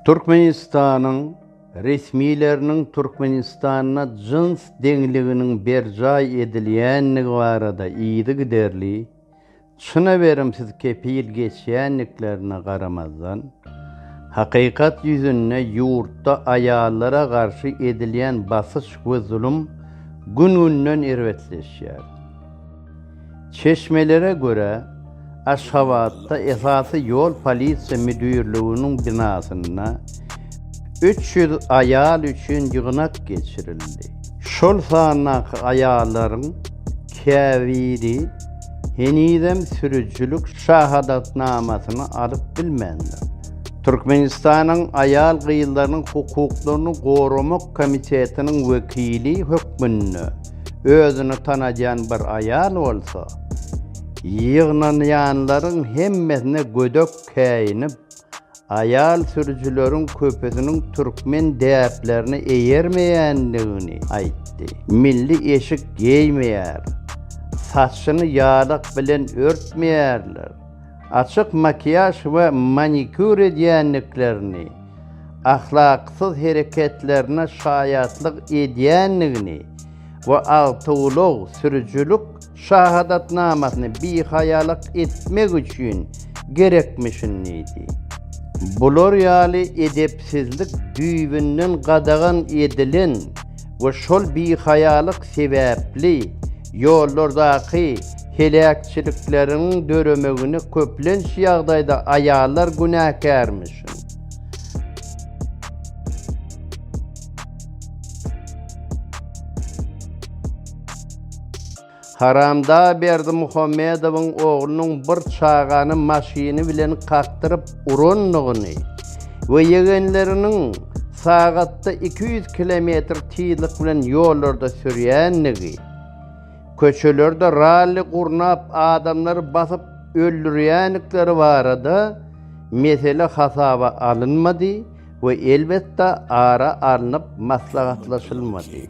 Türkmenistanyň resmileriniň Türkmenistanda jyns deňliginiň berjaý edilýändigi barada yzygiderli, çyna berimsiz kepil geçýändiklerine garamazdan, hakykat ýüzünde ýurtda aýallara garşy edilýän basyş we zulum gün-günden erbetleşýär. Çeşmelere görä, Aşgabatda esasy ýol polisiýa müdirliginiň binasynda üç ýüz aýal üçin ýygnak geçirildi. Şol sandaky aýallaryň käbiri henizem sürüjilik şahadatnamasyny alyp bilmändir. Türkmenistanyň Aýal-gyzlaryň hukuklaryny goramak komitetiniň wekili hökmünde, özüni tanadýan bir aýal bolsa, ýygnanýanlaryň hemmesine gödek käýinip, aýal sürüjileriň köpüsiniň türkmen däplerine eýermeýändigini aýtdy. Milli eşik geýmeýär, saçyny ýadak bilen örtmeýärler, açyk makiýaž we manikýur edýändiklerini, ahlaksyz hereketlerine şaýatlyk edýändigini we awtoulag sürüjilik şahadatnamasyny bihaýalyk etmek üçin gerekmişin diýdi. Bular ýaly edepsizlik düýbünden gadagan edilen we şol bihaýalyk sebäpli ýollardaky heläkçilikleriň döremegine köplenç ýagdaýda aýallar günäkärmiş. Haramdag Berdimuhamedowyň oglunyň bir çagany maşyny bilen kakdyryp urandygyny we ýegenleriniň sagatda iki ýüz kilometr tizlik bilen ýollarda sürýändigi, Köçelerde ralli gurnap adamlary basyp öldürýändikleri barada mesele hasaba alynmady we elbetde ara alnyp maslahatlaşylmady.